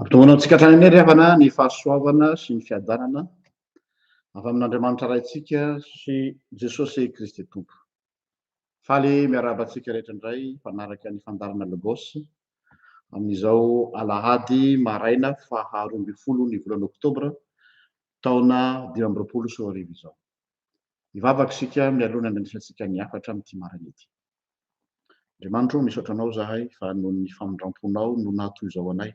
Ampitombony amintsika hatrany anie ry havana ny fahasoavana sy ny fiadanana avy amin'Andriamanitra Raintsika sy Jesosy Kristy Tompo. Faly miarahaba antsika rehetra indray mpanaraka ny fandaharana Logos amin'izao alahady maraina faha roa ambin'ny folo ny volana oktobra taona dimy amby roapolo sy roa arivo izao. Hivavaka isika mialoha ny handranisantsika ny hafatra amin'ity maraina ity. Andriamanitro, misaotra anao zahay fa noho ny famindram-ponao no naha toy izao anay.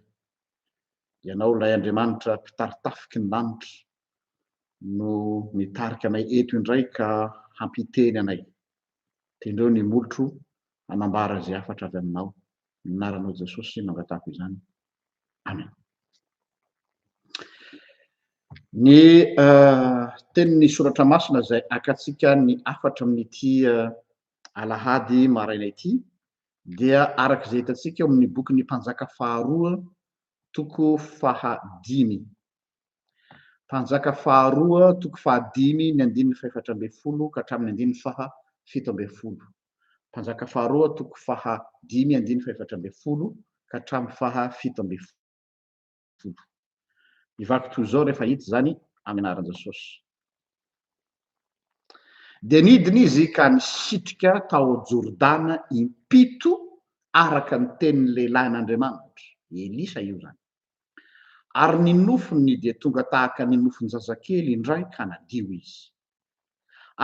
Ianao ilay Andriamanitra mpitari-tafiky ny lanitra, no nitarika anay eto indray ka hampiteny anay. Tendreo ny molotro hanambara izay hafatra avy aminao. Ny anaranao Jesosy no angatahako izany. Amen. Ny tenin'ny soratra masina izay akatsika ny hafatra amin'ity alahady maraina ity dia araka izay hitantsika eo amin'ny bokin'ny mpanjaka faharoa toko fahadimy Mpanjaka faharoa, toko fahadimy, ny andininy fahefatra ambin'ny folo ka hatramin'ny andininy faha fito ambin'ny folo. Mpanjaka faharoa, toko faha dimy, andininy fahefatra ambin'ny folo ka hatramin'ny faha fito ambin'ny folo. Ny vaky toy izao rehefa hita izany amin'ny anaran-Jesosy. Dia nidina izy ka nisitrika tao Jordana im-pito araka ny tenin'ny lehilahin'Andriamanitra. Elisa io izany. Ary ny nofony dia tonga tahaka ny nofon-jazakely indray ka nadio izy.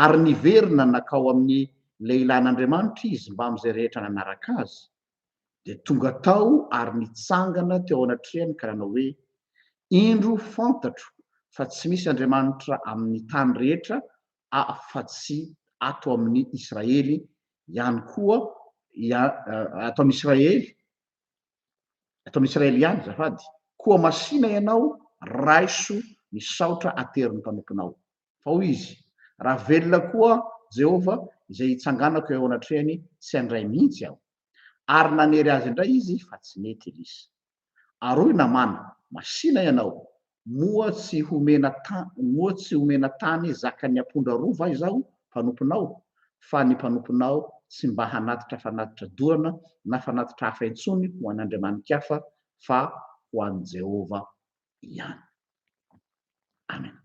Ary niverina nakao amin'ny lehilahin'Andriamanitra izy mbamin'izay rehetra nanaraka azy, dia tonga tao ary nitsangana teo anatrehany ka nanao hoe, Indro fantatro fa tsy misy Andriamanitra amin'ny tany rehetra afa-tsy ato amin'ny Israely ihany koa, ato amin'Israely eto amin'ny Israely ihany azafady, koa masìna ianao, raiso ny saotra aterin'ny mpanomponao. Fa hoy izy, Raha velona koa Jehovah, izay itsanganako eo anatrehany, tsy handray mihitsy aho. Ary nanery azy indray izy fa tsy nety Elisa. Ary hoy Namàna, Masìna ianao, moa tsy homena moa tsy homena tany zakan'ny apondra roa va izaho mpanomponao? fa ny mpanomponao tsy mba hanatitra fanatitra dorana na fanatitra hafa intsony ho an'andriamani-kafa fa ho an'i Jehovah ihany. Amen.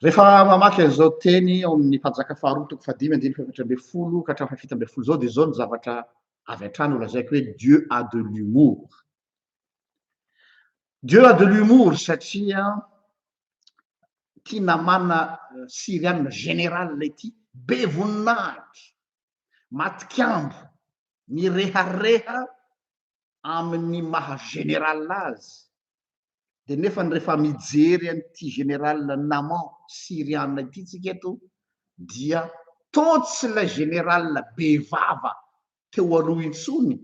Rehefa mamaky an'izao teny ao amin'ny Mpanjaka faharoa toko fahadimy andininy fahaefatra ambin'ny folo ka hatramin'ny fahafito ambin'ny folo izao dia izao ny zavatra avy hatrany ho lazaiko hoe Dieu a de l'humour. Dieu a de l'humour satria ity namana euh, syrianina général ity be voninahitra, matikambo, mirehareha amin'ny maha général azy Dia nefany rehefa mijery an'ity général Naman Syriana ity tsika eto dia toa tsy ilay général be vava teo aloha intsony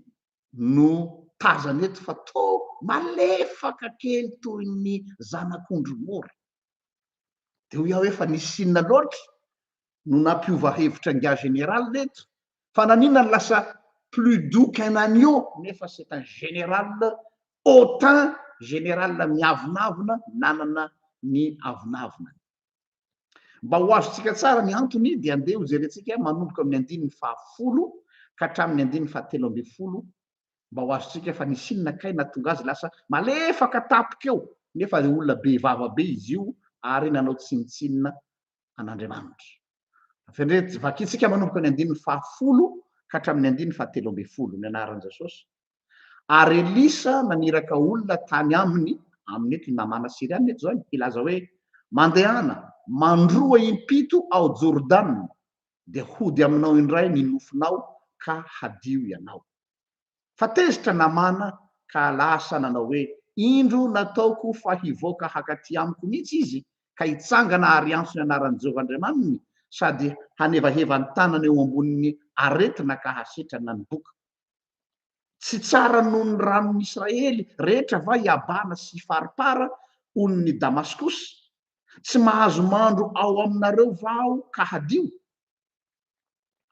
no tazana eto fa toa malefaka kely toy ny zanak'ondry mora. Dia hoy aho hoe fa nisy inona loatra no nampiova hevitra ingahy général reto fa naninona no lasa plus doux qu'un agneau nefa c'est un général hautain général miavonavona nanana ny avonavonany. Mba ho azontsika tsara ny antony dia andeha hojerentsika manomboka amin'ny andininy fahafolo ka hatramin'ny andininy fahatelo ambin'ny folo mba ho azontsika fa nisy inona kay nahatonga azy lasa malefaka tampoka eo nefa olona be vava be izy io ary nanao tsinontsinona an'Andriamanitra. Tafendretsy, vakintsika manomboka ny andininy fahafolo ka hatramin'ny andininy fahatelo ambin'ny folo ny anaran'i Jesosy. Ary Elisa naniraka olona tany aminy, aminy eto i Namana Syriana eto izany, hilaza hoe, Mandehana, mandroa impito ao Jordana, dia hody aminao indray ny nofinao ka hadio ianao. fa tezitra namana ka lasa nanao hoe, Indro nataoko fa hivoaka hakaty amiko mihitsy izy ka hitsangana ary hiantso ny anaran'i Jehovah Andriamaniny sady hanevaheva ny tanany eo ambonin'ny aretina ka hasetra na ny boka. Tsy tsara noho ny ranon'i Israely rehetra va i Abana sy Farpara, olon'i Damaskosy? Tsy mahazo mandro ao aminareo va aho ka hadio?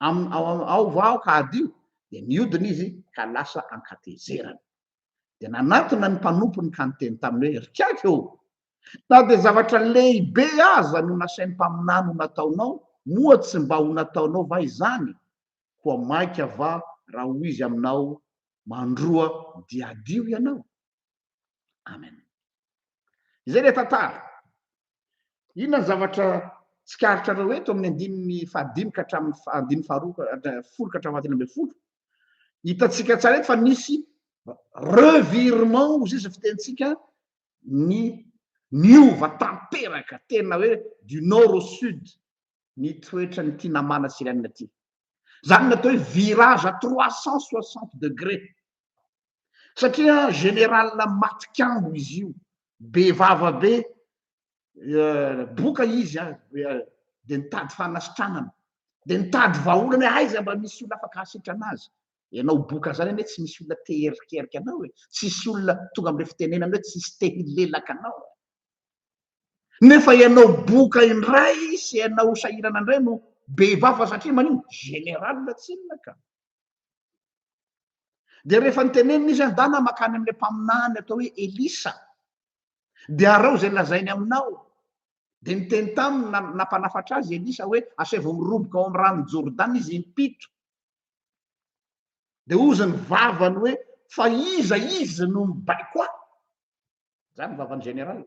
amin'ny ao amin'ny ao va aho ka hadio? Dia niodina izy ka lasa an-katezerana. Dia nanatona ny mpanompony ka niteny taminy hoe, Ry Kiaka ô! Na dia zavatra lehibe aza no nasain'ny mpaminany ho nataonao, moa tsy mba ho nataonao va izany? Koa maika va raha hoy izy aminao, Mandroa dia hadio ianao? Amen. Izay ilay tantara. Inona ny zavatra tsikaritrareo eto amin'ny andininy fahadimy ka hatramin'ny andininy faharoa folo ka hatramin'ny fahatelo ambin'ny folo? Hitantsika tsara eto fa nisy revirement izay fitentsika ny niova tanteraka tena hoe du nord au sud ny toetra ny tinamana sirianina ty. Zany natao hoe virage à 360 degrés satria général matikambo izy io be vava be boka izy a de nitady fanasitranana de nitady vahaolana hoe aiza mba misy olona afaka hasitrana azy ianao boka zany anie tsy misy olona te herikerika anao e tsisy olona tonga amle fitenenana hoe tsisy te hilelaka anao e nefa ianao boka indray sy ianao sahirana indray no be vava satria manino général tsinona ka Dia rehefa nitenenina izy, Andana makany amin'ilay mpaminany atao hoe Elisa, dia arao izay lazainy aminao. Dia niteny taminy na, nampanafatra azy Elisa hoe, Asaivo miroboka ao amin'ny ranon'i Jordana izy impito. Dia hozy ny vavany hoe, Fa iza izy no mibaiko ahy? Izany ny vavan'ny général.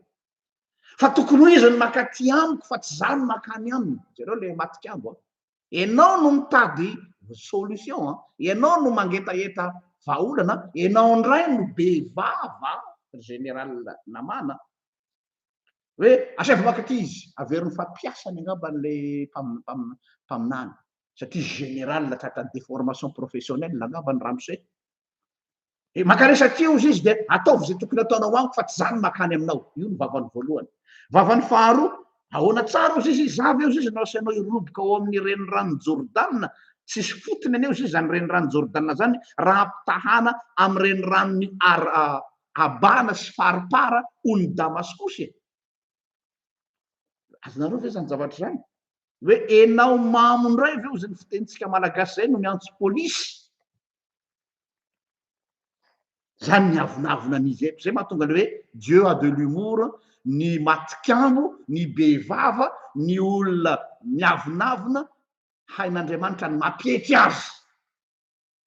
Fa tokony ho izy ny makaty amiko fa tsy izaho ny makany aminy. Jereo ilay matik'ambo. Enao no mitady solution an! Enao no mangetaheta vahaolana an! Enao ndray no be vava Général Naman an! Hoe asaivo maka aty izy, averin'ny fampiasany angamba an'ilay mpaminany satria Général tratran'ny déformation professionnelle angamba ny ramose. e maka resaka io izy dia ataovy izay tokony ataonao amiko fa tsy za no makany aminao io ny vavany voalohany vavany faharoa ahoana tsara ozy izy zava eo izy no asianao iroboka ao amin'ny renirano jordana tsisy fotony aneo izy zany renirano jordana zany raha ampitahana amin'ny reniranony ar abana sy faripara ony damaskosy e azonareo ve zany zavatra zany hoe enao mamo indray ve ozy ny fitenitsika malagasy zay no miantso polisy Zany ny avonavona ny izy eto. Zay mahatonga ny hoe Dieu a de l'humour, ny matikamo, ny be vava, ny olona miavonavona, hain'Andriamanitra ny mampietry azy.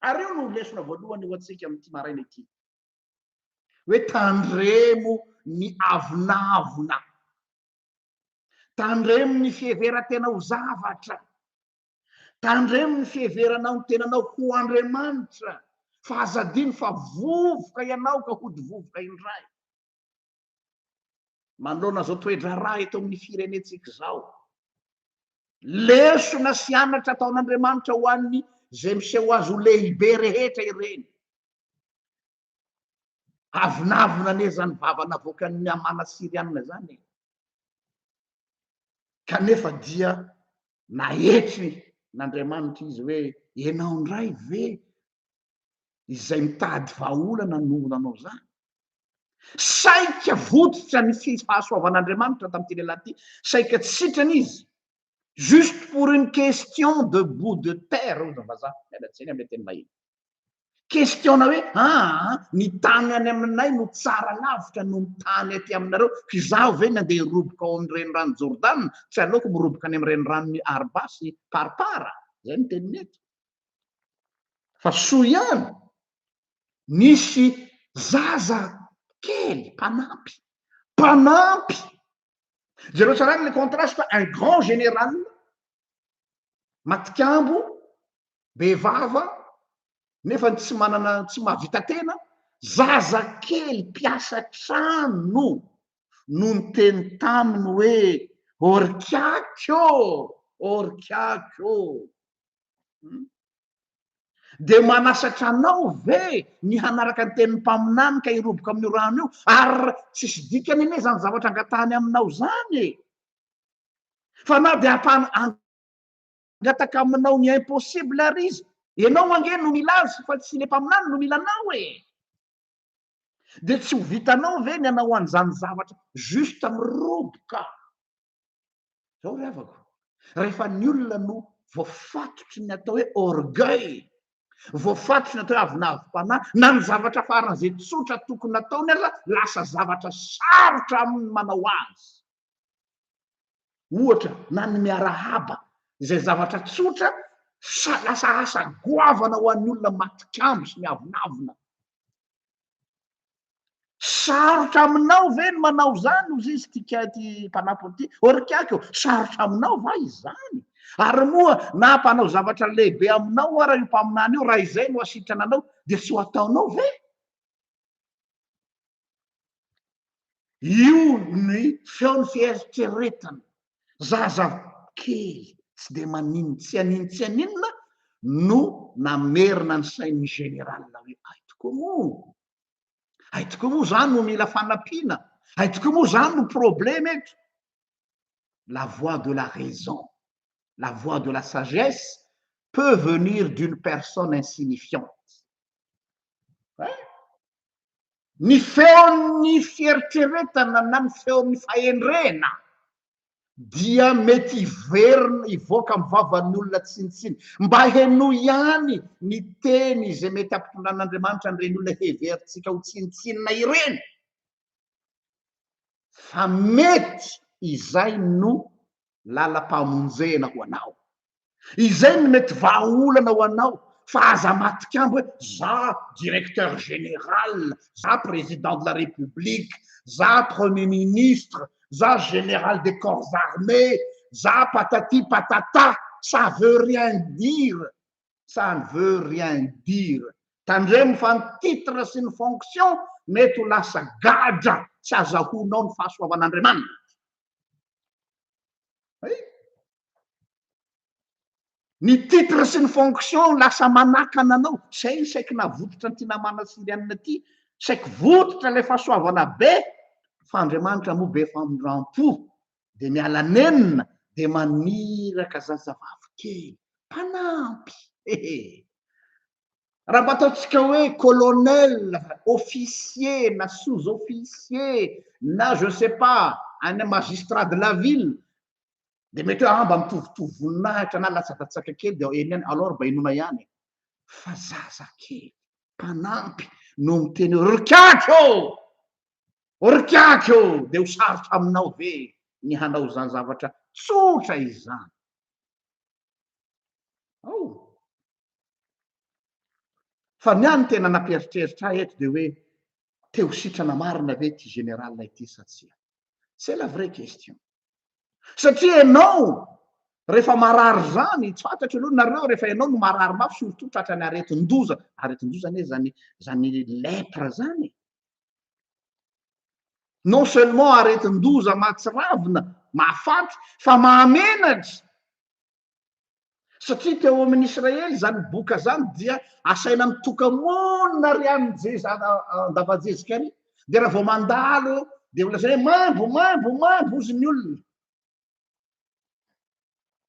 Ary io no lesona voalohany ho antsika amin'ity maraina ity. Hoe tandremo ny avonavona. Tandremo ny fiheveran-tena ho zavatra. Tandremo ny fiheveranao ny tenanao ho Andriamanitra, fa aza adino fa vovoka ianao ka hody vovoka indray. Manoloana izao toe-draharaha eto amin'ny firenentsika izao, lesona sy anatra ataon'Andriamanitra ho an'ny izay miseho azy ho lehibe rehetra ireny. Avonavona anie izany vava navoakan'ny Hamana Syriana izany e! Kanefa dia nahetry n'Andriamanitra izy hoe, Ianao indray ve izay mitady vahaolana no nanao izany? Saika votitra ny fahasoavan'Andriamanitra tamin'ity lehilahy ity, saika tsy sitrana izy, juste pour une question de bout de terre, hoy ny vazaha, miala tsiny amin'ilay teny vahiny. Question-na hoe aa ny tany any aminay no tsara lavitra noho ny tany aty aminareo, k'izaho ve ny andeha hiroboka ao amin'ny renirano Jordana, tsy aleoko miroboka any amin'ny reniranon'i Arba sy Parpara? Izay no teniny eto. Fa soa ihany nisy zaza kely mpanampy, mpanampy! Jereo tsara ny contraste, un grand général matikambo, be vava, nefa tsy manana tsy mahavita tena, zaza kely mpiasa trano no niteny taminy hoe orkiaky ô! orkiaky ô! dia manasatra anao ve ny hanaraka ny tenin'ny mpaminany ka hiroboka amin'io rano io? Ary tsisy dikany anie izany zavatra angatahany aminao izany e! fa na dia hampangataka aminao ny impossible ary izy, ianao ange no mila azy fa tsy le mpaminany no mila anao e! Dia tsy ho vitanao ve ny hanao an'izany zavatra juste miroboka? Zao ry havako, rehefa ny olona no voafatotry ny atao hoe orgueil, voafatotry ny atao hoe avonavim-panahy, na ny zavatra faran'izay tsotra tokony ataony aza lasa zavatra sarotra aminy manao azy. ohatra, na ny miarahaba, izay zavatra tsotra sa lasa asa goavana ho an'ny olona matikambo sy miavonavona. Sarotra aminao ve ny manao izany, hoy izy ity ka ity mpanampiny ity, or kiaka eo, sarotra aminao va izany? Ary moa na mpanao zavatra lehibe aminao ara io mpaminany io, raha izay no asitrana anao, dia tsy ho ataonao ve? Io ny feon'ny fieritreretana. Zaza kely tsy dia manin tsy anin tsy aninona no namerina ny sain'ny général hoe hay tokoa moa, hay tokoa moa za no mila fanampiana, hay tokoa moa za no problème eto. La voix de la raison, la voix de la sagesse peut venir d'une personne insignifiante. eh? Ny feon'ny fieritreretana na ny feon'ny fahendrena dia mety hiverina hivoaka amin'ny vavan'ny olona tsinontsiny. Mba henoy ihany ny teny izay mety hampitondran'Andriamanitra an'ireny olona heverintsika ho tsinontsinona ireny. Fa mety izay no lalam-pamonjena ho anao. Izay no mety vahaolana ho anao fa aza matikambo hoe za directeur général, za président de la république, za premier ministre, za général des corps armés, za patati patata, ça veut rien dire, ça ne veut rien dire. Tandremo fa ny titre sy ny fonction mety ho lasa gadra tsy azahoanao ny fahasoavan'Andriamanitra. eh? ny titre sy ny fonction lasa manakana anao zay ny saiky navototra an'ity namana syrianina ity saiky vototra ilay fahasoavana be fa andriamanitra moa be famindram-po dia miala nenina dia maniraka zazavavy kely mpanampy hehe Raha mba ataontsika hoe colonel, officier, na sous-officier, na je ne sais pas, any magistrat de la ville, dia mety hoe mba mitovitovy voninahitra na latsakatsaka kely dia eny ihany, alors mba inoana ihany e. Fa zazakely, mpanampy no miteny hoe ry kiaky ô! Ry kiaky ô! Dia ho sarotra aminao ve ny hanao izany zavatra tsotra izany? Ao, Fa ny ahy ny tena nampieritreritra ahy eto dia hoe te ho sitrana marina ve ity général ity sa tsia? C'est la vraie question. Satria ianao rehefa marary izany, tsy fantatro aloha nareo rehefa ianao no marary mafy surtout tratra ny aretin-doza, aretin-doza anie izany izany lèpre izany e. Non seulement aretin-doza mahatsiravina, mahafaty fa mahamenatra. satria teo amin'ny Israely izany boka izany dia asaina mitoka-monina ary amin'ny jeza an-dava-jezika ary dia raha vao mandalo dia holazaina hoe maimbo maimbo maimbo hozy ny olona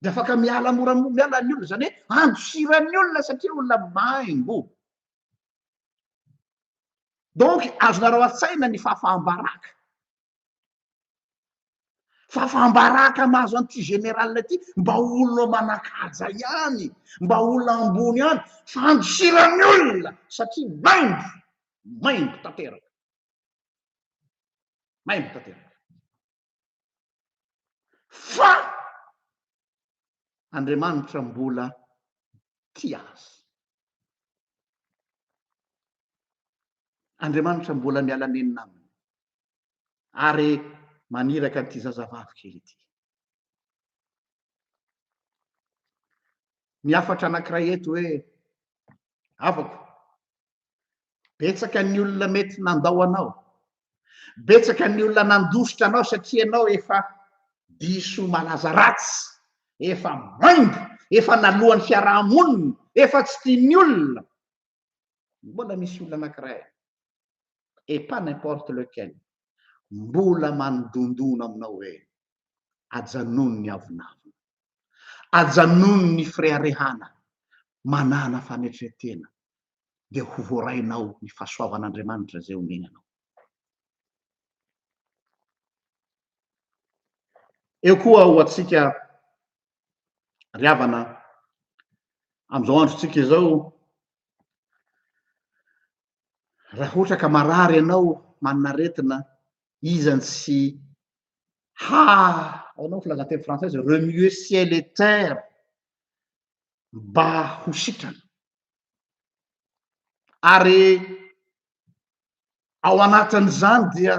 dia afaka miala mora miala ny olona izany hoe andosiran'ny olona satria olona maimbo donc azonareo an-tsaina ny fahafaham-baraka fa fambaraka mahazo an'ity général ity mba olona manakaja ihany mba olona ambony any fandosirany olona satria maimbo maimbo tanteraka maimbo tanteraka fa andriamanitra mbola ti azy andriamanitra mbola miala nenina aminy ary maniraka an'ity zazavavy kely ity. Ny hafatra anankiray eto hoe havako, betsaka ny olona mety nandao anao, betsaka ny olona nandositra anao satria ianao efa diso malaza ratsy, efa maimbo, efa naloan'ny fiarahamonina, efa tsy tian'ny olona, mbola misy olona anankiray et pas n'importe lequel mbola manodondona aminao hoe ajanony ny avonavona, ajanony ny fireharehana manana fanetretena dia ho voarainao ny fahasoavan'Andriamanitra izay omeny anao. Eo koa ho antsika Ry havana, amin'izao androntsika izao, raha ohatra ka marary ianao, manana aretina, iza no tsy ha, ahoana ny filazanteny frantsay izay, remuer ciel et terre mba ho sitrana. Ary ao anatin'izany dia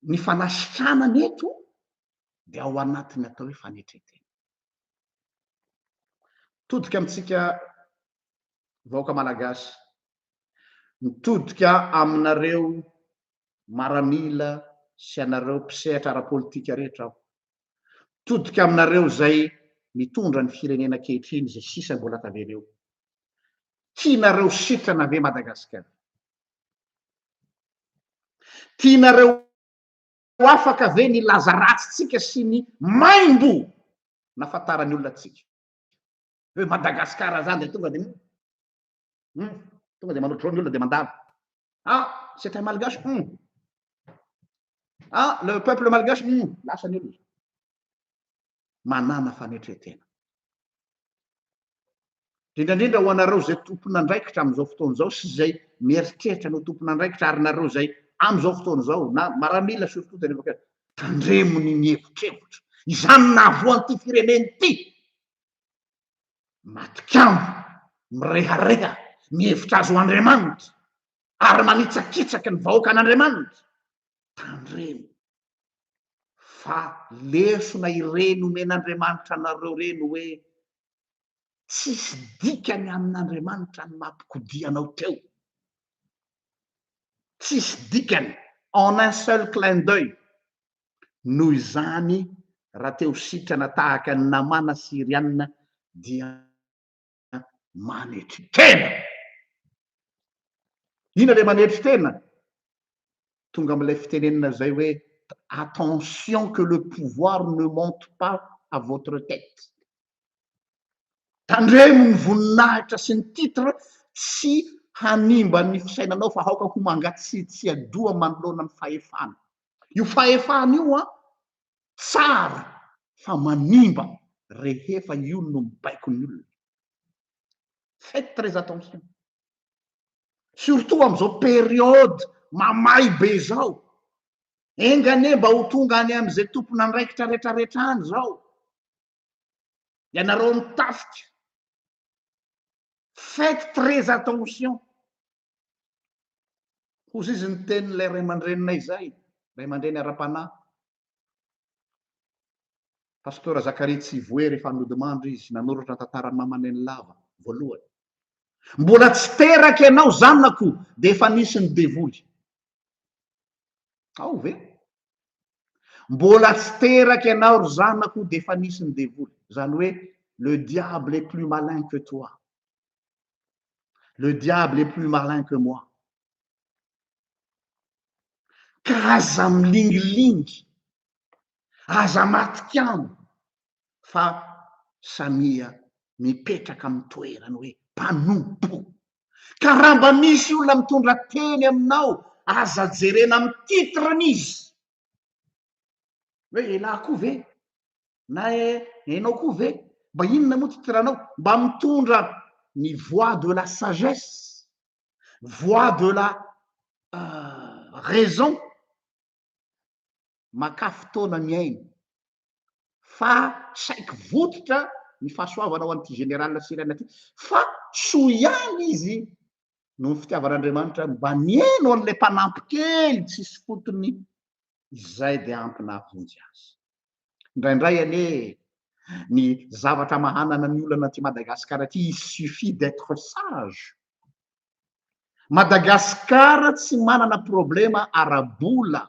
ny fanasitranana eto dia ao anatin'ny atao hoe fanetren-tena. Mitodika amintsika vahoaka malagasy, mitodika aminareo maramila sy anareo mpisehatra ara-politika rehetra aho, mitodika aminareo izay mitondra ny firenena ankehitriny izay sisa mbola tavela eo. Tianareo sitrana ve Madagasikara? Tianareo Ho afaka ve ny hilaza ratsintsika sy ny maimbo nahafantaran'ny olona antsika? Hoe Madagasikara zany dia tonga dia hum, tonga dia manotrona ny olona dia mandalo. Ah, c'est un malgache, hum. Ah, le peuple malgache, hum, lasa ny olona. manàna fanetren-tena. Indrindra indrindra ho anareo izay tompon'andraikitra amin'izao fotoana izao sy izay mieritreritra ny ho tompon'andraikitra ary nareo izay amin'izao fotoana izao na maramila surtout tena efa tandremo ny mihevotrevotra. Izany nahavoan'ity firenena ity. Matikamba, mirehareha, mihevitra azy ho Andriamanitra ary manitsakitsaky ny vahoakan'Andriamanitra. Tandremo. fa lesona ireny omen'Andriamanitra anareo ireny hoe tsisy dikany amin'Andriamanitra ny mampikodia anao teo. Tsisy dikany en un seul clin d'oeil. Noho izany raha te ho sitrana tahaka an'i Namàna Syriana dia. manetry tena. Inona ilay manetry tena? Tonga amin'ilay fitenenana izay hoe attention que le pouvoir ne monte pas à votre tête. Tandremo ny voninahitra sy ny titre tsy hanimba ny fisainanao fa aoka ho mangatsiatsiadoha manoloana ny fahefana. Io fahefana io an, tsara fa manimba rehefa io no mibaiko ny olona. Faites très attention. Surtout amin'izao période mamay be izao. Enga anie mba ho tonga any amin'izay tompon'andraikitra retraretra any izao. Ianareo amin'ny tafika. Faites très attention. Hozy izy niteny ilay ray aman-dreninay izay, ray aman-dreny ara-panahy. Pasteur Zakaria Tsivohery efa nodimandry izy nanoratra tantara mama neny lava voalohany. Mbola tsy teraka ianao zanako dia efa nisy ny devoly. Ao ve? Mbola tsy teraka ianao ry zanako dia efa nisy ny devoly. Izany hoe le diable est plus malin que toi. Le diable est plus malin que moi. Ka aza milingilingy, aza matikano fa samia mipetraka amin'ny toerany hoe mpanompo. Ka raha mba misy olona mitondra teny aminao, aza jerena amin'ny titre-ny izy hoe elah koa ve na enao koa ve mba inona moa titranao mba mitondra ny voix de la sagesse voix de la raison makà fotoana miaina fa saiky vototra ny fahasoavana ho an'ity général sirène ity fa soa ihany izy noho ny fitiavan'Andriamanitra mba nihaino an'ilay mpanampy kely tsisy fotony izay dia ampy nahavonjy azy. Indraindray anie ny zavatra mahanana ny olana aty Madagasikara aty il suffit d'être sage. Madagasikara tsy manana problema ara-bola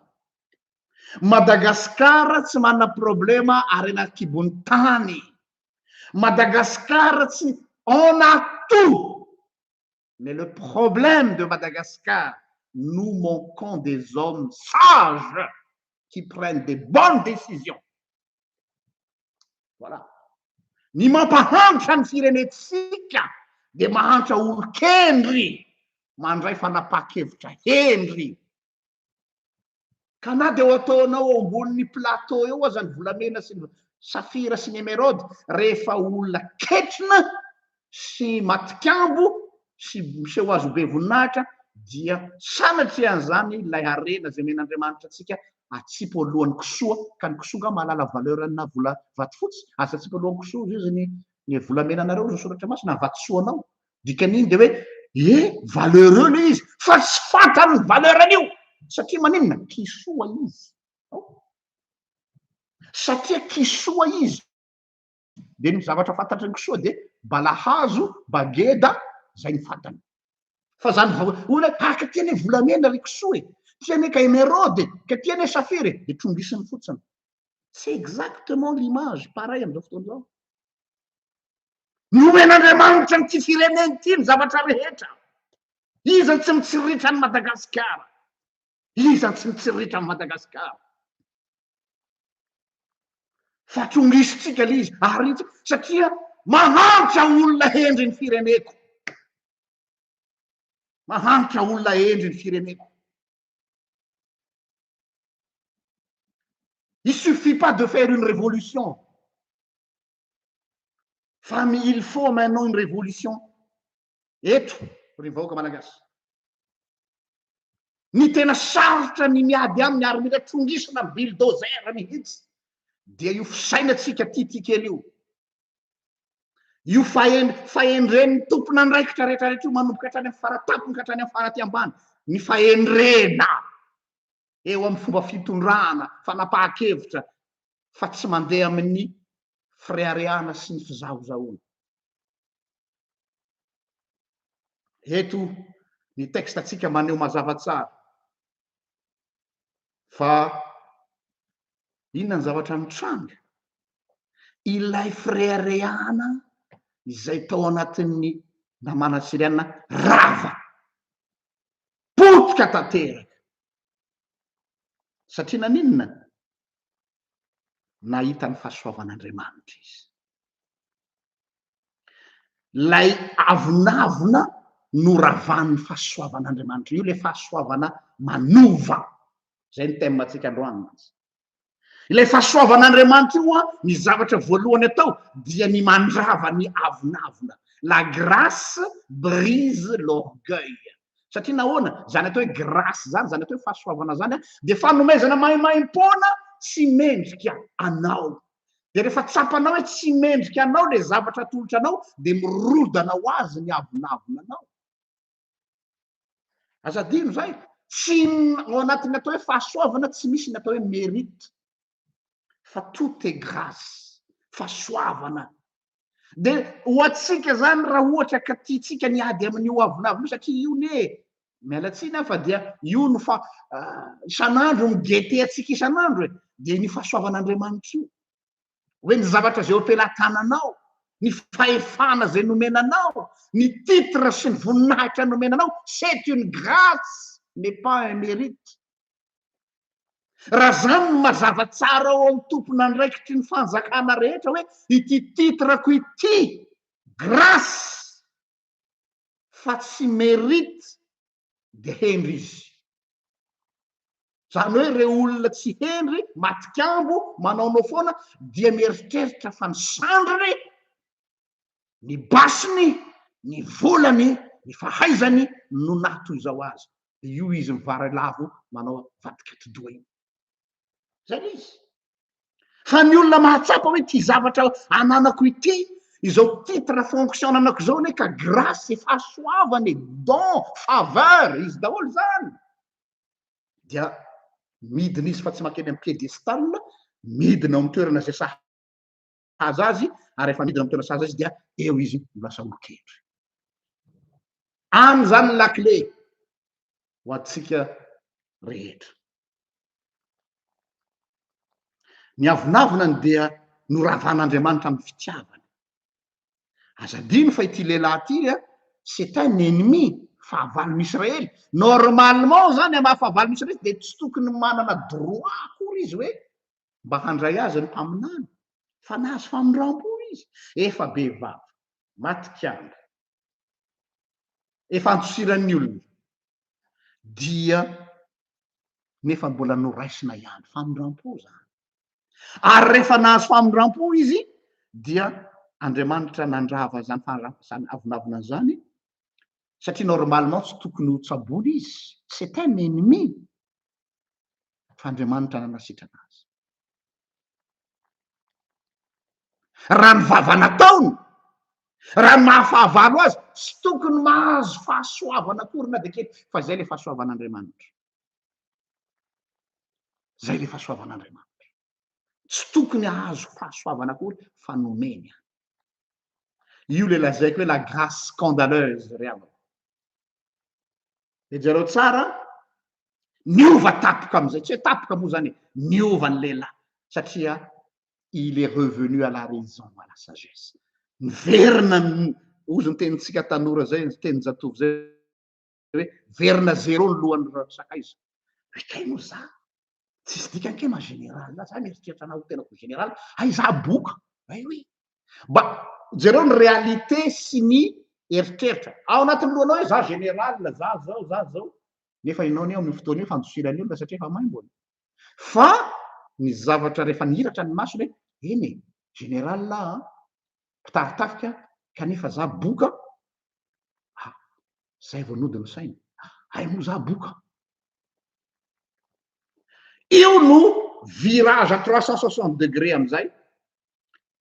Madagasikara tsy manana problema harena an-kibon'ny tany. Madagasikara tsy on a tout mais le problème de Madagascar nous manquons des hommes sages qui prennent des bonnes décisions. Voilà. Ny mampahantra ny firenentsika dia mahantra olon-kendry mandray fanapahan-kevitra hendry. Ka na dia ho ataonao eo ambonin'ny plateau eo aza ny volamena sy ny safira sy ny emeraude, rehefa olona ketrina sy matikambo sy miseho azy ho be voninahitra, dia sanatrian'izany ilay harena izay omen'Andriamanitra antsika atsipy eo alohan'ny kisoa, ka ny kisoa angaha mahalala valeur-na vola vatofotsy? Aza atsipy eo alohan'ny kisoa, hoy Jesoa, ny ny volamenanareo, hoy ny Soratra Masina, ny vatosoanao, dikan'iny de hoe e valeureux le izy fa tsy fantany ny valeur an'io satria maninona kisoa izy satria kisoa izy de ny zavatra fantatry ny kisoa de balahazo bageda zay ny fantany fa zany vao olona tahaka ty anie volamena ry kisoa e ty anie ka emeraude ka ty anie safira e de trongisiny fotsiny c'est exactement l'image pareil am'izao fotoana izao Nomen'Andriamanitra an'ity firenena ity ny zavatra rehetra. Iza no tsy mitsiritra an'i Madagasikara? Iza no tsy mitsiritra an'i Madagasikara? Fa tongisintsika ilay izy, arintsika, satria mahantra olona hendry ny fireneko. Mahantra olona hendry ny fireneko. Il suffit pas de faire une révolution. fa mi il faut maintenant une révolution eto ry vahoaka malagasy ny tena sarotra ny miady aminy ary mila trongisina am bulldozer mihitsy dia io fisainantsika titikely io io fahen fahendren'ny tompon'andraikitra rehetrarehetra io manomboka hatrany am faratapony ka hatrany am faraty ambany ny fahendrena eo amin'ny fomba fitondrana, fanapahan-kevitra fa tsy mandeha amin'ny fireharehana sy ny fizahozahoana. Eto ny texte-ntsika maneho mazava tsara fa inona ny zavatra nitranga, ilay fireharehana izay tao anatin'ny Namana Siriana rava potika tanteraka. Satria naninona? Nahita ny fahasoavan'Andriamanitra izy. Ilay avonavona noravan'ny fahasoavan'Andriamanitra, io ilay fahasoavana manova. Izay ny thème-ntsika androany. Ilay fahasoavan'Andriamanitra io, ny zavatra voalohany atao dia ny mandrava ny avonavona. La grâce brise l'orgueil. Satria nahoana? Izany atao hoe grâce izany, izany atao hoe fahasoavana izany, dia fanomezana maimaim-poana tsy mendrika anao. Dia rehefa tsapanao hoe tsy mendrika anao ilay zavatra atolotra anao, dia mirodana ho azy ny avonavona anao. Aza adino izay, tsy ao anatin'ny atao hoe fahasoavana tsy misy ny atao hoe mérite fa tout est grâce, fahasoavana. Dia ho antsika izany raha ohatra ka tiantsika ny ady amin'ny hoavonavy io satria io anie e, miala tsiny aho fa dia io no fa isan'andro mi-guetter antsika isan'andro e, dia iny fahasoavan'Andriamanitra io. hoe ny zavatra izay eo am-pelatananao, ny fahefana izay nomena anao, ny titre sy ny voninahitra nomena anao, c'est une grâce n'est pas un mérite. Raha izany no mazava tsara ao amin'ny tompon'andraikitry ny fanjakana rehetra hoe ity titre-ko ity, grâce fa tsy mérite dia hendry izy. Izany hoe ireo olona tsy hendry, matikambo, manaonao foana dia mieritreritra fa ny sandriny, ny basiny, ny volany, ny fahaizany no naha toy izao azy. Dia io izy mivaralavo manao vadik'atidoha io. zany izy fa ny olona mahatsapa hoe ty zavatra ananako ity izao titre fonction anako izao anie ka grace fahasoavana e don faveur izy daholo zany dia midina izy fa tsy makeny am piedestal midina ao am toerana zay sa sahaza azy ary rehefa midina amin'ny toerana sahaza izy dia eo izy no lasa olon-kendry. Any izany ny lakile ho antsika rehetra. Ny avonavonany dia noravan'Andriamanitra amin'ny fitiavany. Aza adino fa ity lehilahy ity, c'est un ennemi, fahavalon'ny Israely. Normalement izany amin'ny maha fahavalon'ny Israely izy dia tsy tokony manana droit akory izy hoe mba handray azy ny mpaminany, fa nahazo famindram-po izy, efa be vava, maty kianja, efa andosiran'ny olona, dia nefa mbola noraisina ihany, famindram-po izany. Ary rehefa nahazo famindram-po izy, dia Andriamanitra nandrava izany faharavana avonavona izany, satria normalement tsy tokony ho tsaboina izy, c'est un ennemi, fa Andriamanitra nanasitrana azy. Raha ny vava nataony, raha ny mahafahavalo azy, tsy tokony mahazo fahasoavana akory na dia kely, fa izay ilay fahasoavan'Andriamanitra. Izay ilay fahasoavan'Andriamanitra. Tsy tokony hahazo fahasoavana akory fa nomeny ahy. Io ilay lazaiko hoe la grâce scandaleuse ry havana. Dia jereo tsara, niova tapoka amin'izay, tsy hoe tapoka moa izany e, niova ny lehilahy satria il est revenu à la raison, à la sagesse. Niverina ny, hozy ny tenintsika tanora izay, ny tenin-jatovo izay hoe, niverina zéro ny lohan'ny sakaiza. Hoe kay moa izaho, tsisy dikany ke ma général za mieritreritra anao ho tenako général hay za boka ay oui mba jereo ny réalité sy ny eritreritra ao anatin'ny lohanao hoe za général za zao za zao nefa ianao anie amin'ny fotoana io fandosirany olona satria efa maimbona fa ny zavatra rehefa niratra ny masony hoe eny général a mpitaritafika kanefa za boka Zay vao nody ny sainy. Hay moa za boka. Io no virage à trois cent soixante degré amizay.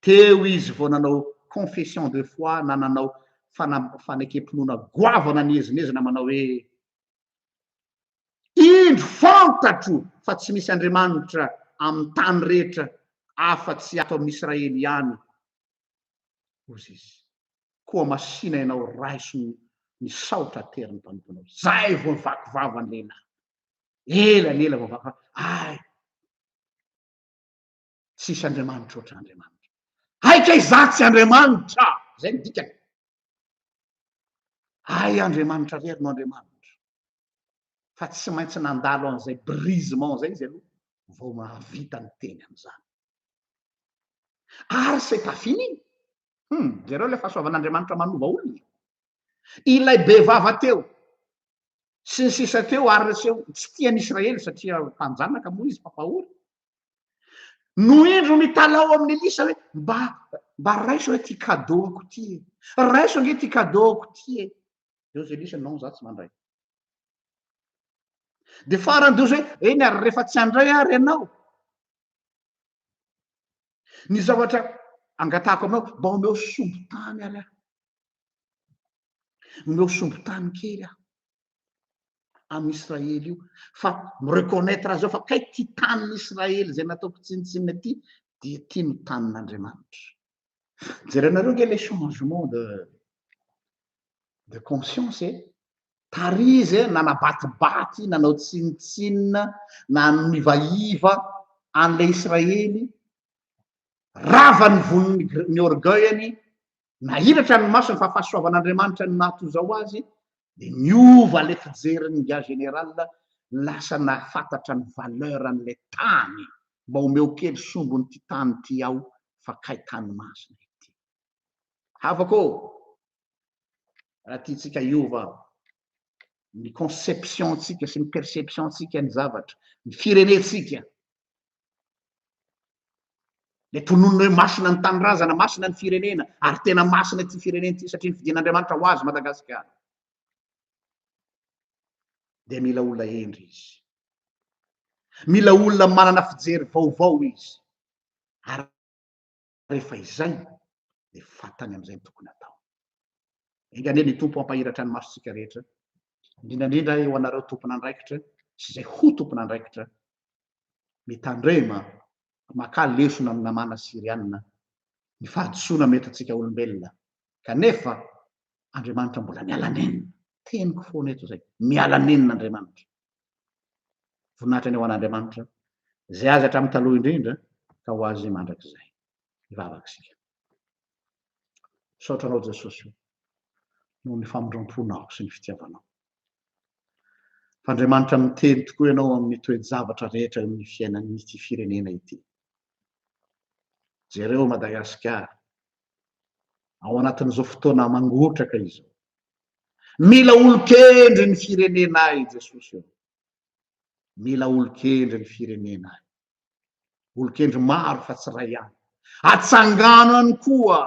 Teo izy vao nanao confession de foi na nanao fanekempinoana goavana niezinezina manao hoe indro fantatro fa tsy misy Andriamanitra amin'ny tany rehetra afa-tsy ato amin'Israely ihany hozy izy. Koa masìna ianao raiso ny misaotra ateriny mpanomponao. Zay vao vaky vava ny lehilahy. Ela ny ela vao vaky vava. Ay! Tsisy Andriamanitra ohatra Andriamanitra. Ay kay za tsy Andriamanitra! Zay ny dikany. Ay Andriamanitra rery no Andriamanitra. Fa tsy maintsy nandalo an'izay brisement zay izy aloha vao mahavita niteny an'izany. Ary izay tafiny iny, hum, jereo ilay fahasoavan'Andriamanitra manova olona e! Ilay bevava teo, sy ny sisa teo, ary lseo tsy tia an'i Israely satria mpanjanaka moa izy, mpampahory. No indro mitalaho amin'i Elisa hoe, mba, mba raiso hoe ity kadoako ity e! Raiso ange ity kadoako ity e! Dia hoy Elisa, non, za tsy mandray. Dia farany dia hoy izy hoe, eny ary rehefa tsy handray ary ianao, Ny zavatra angatahako aminao, mba omeo sombin-tany ary aho. Omeo sombin-tany kely aho amin'ny Israely io, fa mi-reconnaitre azy ao fa kay ty tanin'ny Israely izay nataoko tsinontsinona ty, dia ty no tanin'Andriamanitra. Jerenareo nge le changement de de conscience e, tary izy eh, nanabatibaty, nanao tsinontsinona, nanivaiva an'ilay Israely, rava ny voniny, ny orgueil-ny, nahiratra ny masony fa fahasoavan'Andriamanitra ny maha toy izao azy, dia niova ilay fijerin'ny gars général, lasa nahafantatra ny valeur an'ilay tany, mba omeo kely sombin'ity tany ity aho fa kay tany masina ity. Havako ô! Raha tiantsika hiova ny conception-tsika sy ny perception-tsika ny zavatra, ny firenentsika, le tononina hoe masina ny tanindrazana, masina ny firenena, ary tena masina ity firenena ity satria ny fidin'Andriamanitra ho azy Madagasikara. Dia mila olona hendry izy. Mila olona manana fijery vaovao izy. Ary rehefa izay dia fantany amin'izay ny tokony hatao. Enga anie ny Tompo hampahiratra ny masontsika rehetra, indrindra indrindra eo anareo tompon'andraikitra sy izay ho tompon'andraikitra, mitandrema, makà lesona amin'ny namana Syriana, ny fahadisoana mety antsika olombelona, kanefa Andriamanitra mbola miala nenina. Teniko foana eto izay, miala nenina Andriamanitra. Voninahitra ny ho an'Andriamanitra izay azy hatramin'ny taloha indrindra ka ho azy mandrakizay. Hivavaka isika. Misaotra anao Jesosy o, noho ny famindram-ponao sy ny fitiavanao. F'Andriamanitra miteny tokoa ianao amin'ny toe-javatra rehetra eo amin'ny fiainan'ity firenena ity. Jereo Madagasikara ao anatin'izao fotoana mangotraka izao. Mila olon-kendry ny firenena i Jesosy ô. Mila olon-kendry ny firenena. Olon-kendry maro fa tsy iray ihany. Atsangano ihany koa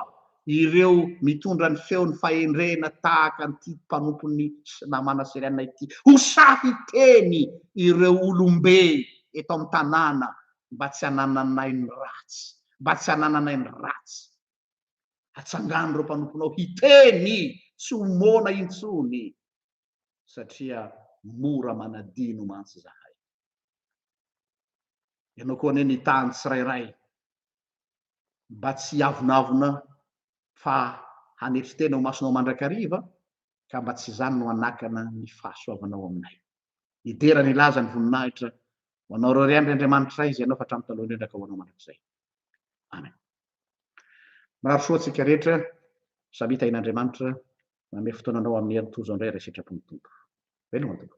ireo mitondra ny feon'ny fahendrena tahaka an'ity mpanompon'ny namana Syriana ity. Ho sahy-teny ireo olom-be eto amin'ny tanàna mba tsy hanananay ny ratsy, mba tsy hanananay ny ratsy. Hatsangano ireo mpanomponao hiteny tsy ho moana intsony, satria mora manadino mantsy izahay. Ianao koa anie mitaha ny tsirairay mba tsy hiavonavona fa hanetry tena ho masonao mandrakariva, ka mba tsy izany no hanakana ny fahasoavanao aminay. Hidera ny laza ny voninahitra ho anao irery ihany ry Andriamanitray, izay nanao fa hatramin'ny taloha indrindra ka ho anao mandrakizay. Amen. Mahasoa antsika rehetra samita in Andriamanitra manome fotoana anao amin'ny herintoa izao indray ry sitrapon'ny Tompo. Veloma Tompo.